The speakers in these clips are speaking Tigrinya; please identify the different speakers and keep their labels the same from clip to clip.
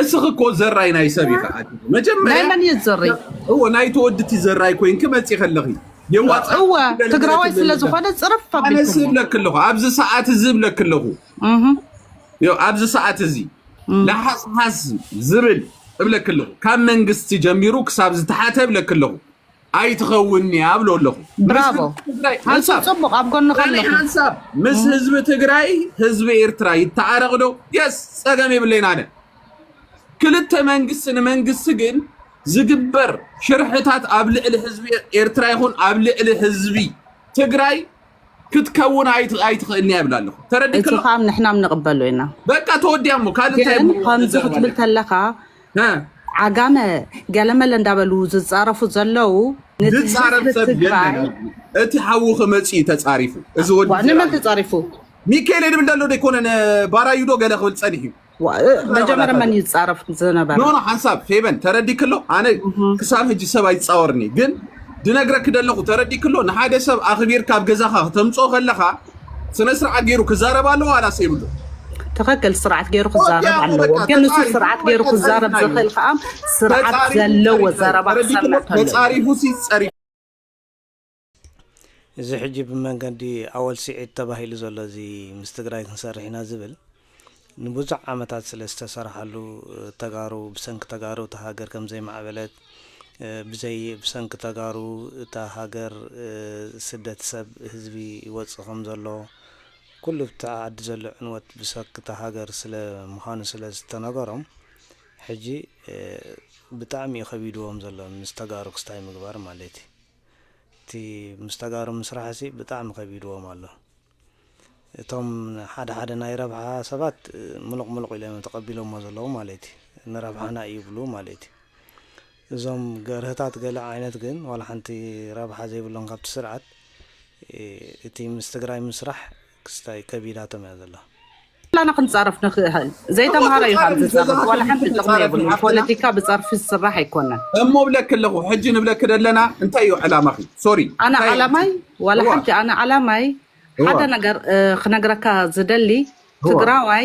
Speaker 1: እስኺ እኮ ዘራይ ናይ ሰብ ኢኺ ኣቲ ናይ መጀመርያ መን እዩ ዘሪ
Speaker 2: እወ ናይ
Speaker 1: ተወድቲ ዘራይ ኮይንኪ መፂኺ ኣለኺ የዋፃእ እወ ትደሊ ነገር ትግራዋይ
Speaker 2: ስለ ክልልካ ዝኾነ ፅርፍ ኣነ ኣቢልክሞ ዝብለኪ ኣለኹ
Speaker 1: ኣብዚ ሰዓት እዚ ዝብለኪ ኣለኹ እህ፣ ዮ ኣብዚ ሰዓት እዚ እህ። ለሓስሓስ ዝብል እብለኪ ኣለኹ ካብ መንግስቲ ጀሚሩ ክሳብ ዝተሓተ እብለኪ ኣለኹ ኣይትኸውንንያ እብሎ ኣለኹ። ምስ ብራቮ ህዝቢ ትግራይ
Speaker 2: እሱ ሓንሳብ ጽቡቅ ኣብ ጎንኻ ካልእ ኣለኹ። ሓንሳብ ምስ እም፣
Speaker 1: ህዝቢ ትግራይ ህዝቢ ኤርትራ ይተዓረቕ ዶ? የስ ጸገም የብለይን ኣነ። ክልተ መንግስቲ ንመንግስቲ ግን ዝግበር ሽርሕታት ኣብ ልዕሊ ህዝቢ ኤርትራ ይኹን ኣብ ልዕሊ ህዝቢ ትግራይ ክትከውን ኣይትኽእልን እያ ይብላ ኣለኹ ተረዲ እቲ ከዓ ንሕናም ንቕበሉ
Speaker 2: ኢና በቃ ተወዲያ እሞ
Speaker 1: ካልእ እንታይ ግን እሞ ከምዚ ክትብል
Speaker 2: ንዘረባለና ተለካ እ ዓጋመ ገለመለ እንዳበሉ ዝፃረፉ ዘለው ነቲ ህዝቢ ዝፃረፍ
Speaker 1: ሰብ የለን ትግራይ ኣብዚ እቲ ሓውኺ መፂኡ እዩ ተፃሪፉ እዚ ወዲ ዋ ንመን ዘረባ ተፃሪፉ
Speaker 2: ሚካኤል የድብል
Speaker 1: ደሎ ዘይኮነን ባራዩ ዶ ገለ ክብል ፀኒሑ እዩ መጀመርያ
Speaker 2: መን ይፃረፍ ዝነበረ ኖ ሓንሳብ ፌበን
Speaker 1: ተረዲክሎ ኣነ ክሳብ ሕጂ ሰብ ኣይፃወርኒ ግን ድነግረኪ ደለኹ ተረዲክሎ ንሓደ ሰብ ኣኽቢርካ ኣብ ገዛኻ ክተምፅኦ ከለኻ ስነ ስርዓት ገይሩ ክዛረብ ኣለዎ ዋላስ የብሉ ትኽክል
Speaker 2: ስርዓት ገይሩ ክዛረብ ኣለዎ ግን ንሱ ስርዓት ገይሩ ክዛረብ ዝኽእል ከዓ ስርዓት ዘለዎ ዘረባ ክሰምዕ ተለዎ ተፃሪፉ ሲፀሪ
Speaker 3: እዚ ሕጂ ብመንገዲ ኣወል ሲዒድ ተባሂሉ ዘሎ እዚ ምስ ትግራይ ክንሰርሕ ኢና ዝብል ንብዙሕ ዓመታት ስለ ዝተሰርሓሉ ተጋሩ ብሰንኪ ተጋሩ እታ ሃገር ከም ዘይማዕበለት ብዘይ ብሰንኪ ተጋሩ እታ ሃገር ስደት ሰብ ህዝቢ ይወፅእ ከም ዘሎ ኩሉ እቲ ዓዲ ዘሎ ዕንወት ብሰኪ እታ ሃገር ስለ ምዃኑ ስለ ዝተነገሮም ሕጂ ብጣዕሚ እዩ ከቢድዎም ዘሎ ምስ ተጋሩ ክስታይ ምግባር ማለት እዩ። እቲ ምስ ተጋሩ ምስራሕሲ ብጣዕሚ ከቢድዎም ኣሎ እቶም ሓደ ሓደ ናይ ረብሓ ሰባት ሙሉቅ ሙሉቅ ኢሎም እዮም ተቀቢሎሞ ዘለዉ ማለት እዩ ንረብሓና እዩ ይብሉ ማለት እዩ እዞም ገርህታት ገለ ዓይነት ግን ዋላ ሓንቲ ረብሓ ዘይብሎም ካብቲ ስርዓት እቲ ምስ ትግራይ ምስራሕ ክስታይ ከቢዳቶም እያ ዘላ። ኩላና
Speaker 2: ክንጻረፍ ንክእህል ዘይተምሃረ እዩ ካብ ዝጸርፍ ዋላ ሓንቲ ጥቅሚ የብሉን ፖለቲካ ብጸርፊ ዝስራሕ ኣይኮነን። እሞ እብለኪ ኣለኩ
Speaker 1: ሕጂ ንብለኪ ደለና እንታይ እዩ ዕላማኪ ሶሪ ኣነ እንታይ ዓላማይ
Speaker 2: ኣምጺ ዋላ እዋ ሓንቲ ኣነ ዓላማይ እዋ ሓደ ነገር እ፣ ክነግረካ ዝደሊ እዋ ትግራዋይ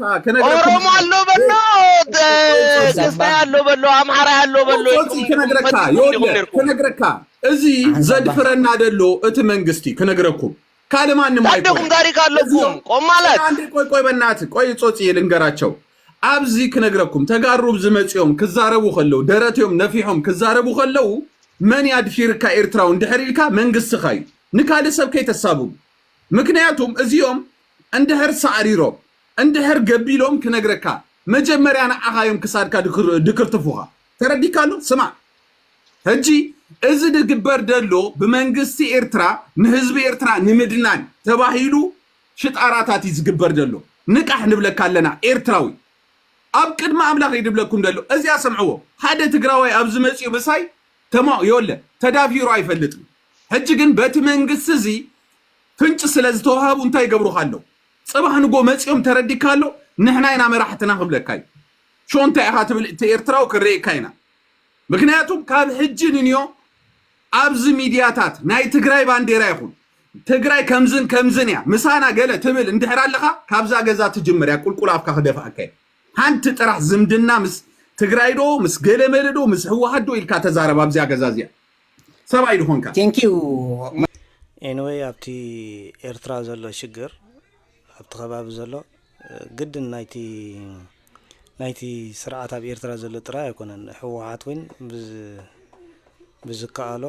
Speaker 4: ታ ከነግረካ ኦሮሞ ኣሎ በሎ ተ- ቆይ ጾጺ ቅስታይ ኣሎ በሎ ኣምሓራይ ኣሎ በሎ ጾጺ ኢልኩም ኢልኩም ክነግረካ ፈቲሽኩም ዲኹም የውለ ነርኩም ክነግረካ
Speaker 1: እዚ ዓንዛባ ዘድፍረና ደሎ እቲ መንግስቲ ክነግረኩም ካልእ ማንም ታደኹም ኣይኮነን ታሪክ እዚኦም ኣለኩም
Speaker 4: ቆይ ቆማላት አንዴ ቆይ ቆይ በናት
Speaker 1: ቆይ ጾጺ ልንገራቸው ኣብዚ ክነግረኩም ተጋሩ ዝመጽኦም ክዛረቡ ከለው ደረትዮም ነፊሖም ክዛረቡ ከለው መን ያድፊርካ ኤርትራውን ድሕር ኢልካ መንግስትኻ እዩ ንካልእ ሰብ ከይተሳብቡ ምክንያቱም እዚኦም እንድሕር ሳዕሪሮም እንድሕር ገቢሎም ክነግረካ መጀመርያ ንዓኻ እዮም ክሳድካ ድክርትፉኻ ተረዲካ ኣሎ ስማዕ ሕጂ እዚ ድግበር ደሎ ብመንግስቲ ኤርትራ ንህዝቢ ኤርትራ ንምድናን ተባሂሉ ሽጣራታት እዩ ዝግበር ደሎ ንቃሕ ንብለካ ኣለና ኤርትራዊ ኣብ ቅድሚ ኣምላኽ እዩ ድብለኩም ደሎ እዚኣ ሰምዕዎ ሓደ ትግራዋይ ኣብዚ መጽኡ ምሳይ ተማ የለ ተዳፊሩ ኣይፈልጥን ሕጂ ግን በቲ መንግስቲ እዚ ፍንጭ ስለ ዝተዋሃቡ እንታይ ይገብሩኻ ኣለው? ጽባሕ ንጎ መጺኦም ተረዲካ ኣሎ ንሕና ኢና መራሕትና ክብለካ እዩ። ሾ እንታይ ኢኻ ትብል እቲ ኤርትራዊ ክንርእየካ ኢና። ምክንያቱም ካብ ሕጂ ንንዮ ኣብዚ ሚድያታት ናይ ትግራይ ባንዴራ ይኹን ትግራይ ከምዝን ከምዝን እያ ምሳና ገለ ትብል እንድሕር ኣለኻ ካብዛ ገዛ ትጅምር እያ ቁልቁል ኣፍካ ክደፍኣካ እዩ። ሓንቲ ጥራሕ ዝምድና ምስ ትግራይ ዶ ምስ ገለመለ ዶ ምስ ህወሓት ዶ ኢልካ ተዛረብ ኣብዚኣ ገዛ እዚኣ። ሰብኣይ ድኾንካ።
Speaker 5: Thank you።
Speaker 3: Anyway ኣብቲ ኤርትራ ዘሎ ሽግር ኣብቲ ከባቢ ዘሎ ግድን ናይቲ ናይቲ ስርዓት ኣብ ኤርትራ ዘሎ ጥራይ ኣይኮነን ህወሓት ውን ብዝ ብዝከኣሎ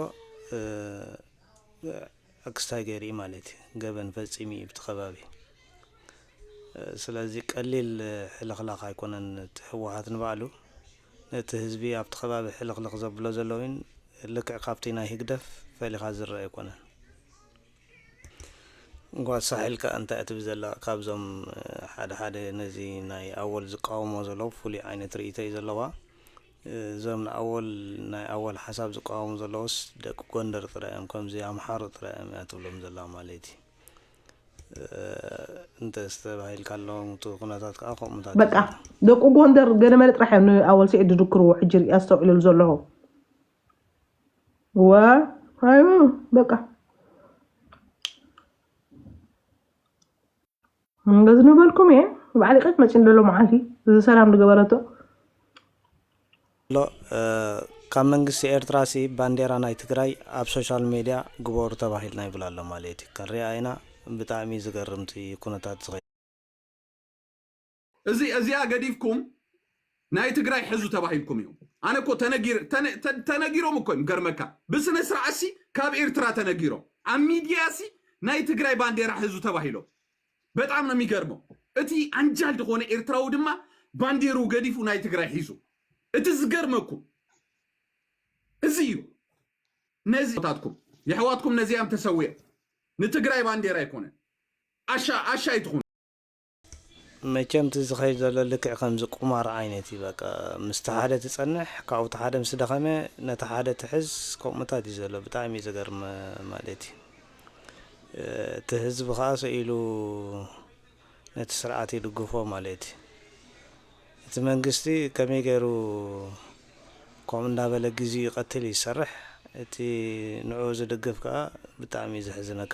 Speaker 3: ኣክስታይ ገይሩ እዩ ማለት እዩ ገበን ፈፂሙ እዩ ብቲ ከባቢ ስለዚ ቀሊል ሕልኽላኽ ኣይኮነን እቲ ህወሓት ንባዕሉ ነቲ ህዝቢ ኣብቲ ከባቢ ሕልኽልኽ ዘብሎ ዘሎ እውን ልክዕ ካብቲ ናይ ህግደፍ ፈሊኻ ዝረአ ኣይኮነን እንኳ ሳሕል ከ እንታይ እትብ ዘላ ካብዞም ሓደ ሓደ ነዚ ናይ ኣወል ዝቃወሞ ዘሎ ፍሉይ ዓይነት ርእይቶ እዩ ዘለዋ እዞም ንኣወል ናይ ኣወል ሓሳብ ዝቃወሙ ዘለውስ ደቂ ጎንደር ጥራይ እዮም ከምዚ ኣምሓሩ ጥራይ እዮም እያ ትብሎም ዘላ ማለት እዩ እንተ ዝተባሂልካሎም እቲ ኩነታት ከዓ ከምኡታት እዩ በቃ ዘሎ ደቁ
Speaker 6: ጎንደር ገለመለ ጥራሕ እዮም ንኣወል ስዒድ ዝድክርዎ ሕጂ ሪኢ ኣስተውዕልሉ ዘለኹ ወ ኣዩ በቃ እንደዝኑ በልኩም እየ ባዕሊ ቀት መፂ ንደሎ መዓልቲ እዚ ሰላም ዝገበረቶ ኣሎ
Speaker 3: ካብ መንግስቲ ኤርትራ ሲ ባንዴራ ናይ ትግራይ ኣብ ሶሻል ሜድያ ግበሩ ተባሂልና ይብል ኣሎ ማለት እዩ ክንሪኣ ኢና ብጣዕሚ ዝገርምቲ ኩነታት ዝኸ እዚ
Speaker 1: እዚኣ ገዲፍኩም ናይ ትግራይ ሕዙ ተባሂልኩም እዮም ኣነ እኮ ተነጊር ተነ- ተ- ተነጊሮም እኮ እዮም ገርመካ ብስነ ስርዓት ሲ ካብ ኤርትራ ተነጊሮም ኣብ ሚድያ ሲ ናይ ትግራይ ባንዴራ ሕዙ ተባሂሎም በጣም ነው የሚገርመው እቲ ኣንጃል ዝኾነ ኤርትራዊ ድማ ባንዴሩ ገዲፉ ናይ ትግራይ ሒዙ እቲ ዝገርመኩም እዚ እዩ ነዚ ታትኩም የሕዋትኩም ነዚያም ተሰዊኦም ንትግራይ ባንዴራ ኣይኮነን ኣሻ ኣሻ ኣይትኹኑ
Speaker 3: መቸም እቲ ዝኸይድ ዘሎ ልክዕ ከምዚ ቁማር ዓይነት እዩ በቃ ምስቲ ሓደ ትጸንሕ ካብኡ እቲ ሓደ ምስ ደኸመ ነቲ ሓደ ትሕዝ ከምኡታት እዩ ዘሎ ብጣዕሚ እዩ ዘገርም ማለት እዩ እቲ ህዝቢ ከኣ ሰኢሉ ነቲ ስርዓት ይድግፎ ማለት እዩ እቲ መንግስቲ ከመይ ገይሩ ከምኡ እንዳበለ ግዜኡ ይቀትል እዩ ዝሰርሕ እቲ ንዕኡ ዝድግፍ ከኣ ብጣዕሚ እዩ ዘሕዝነካ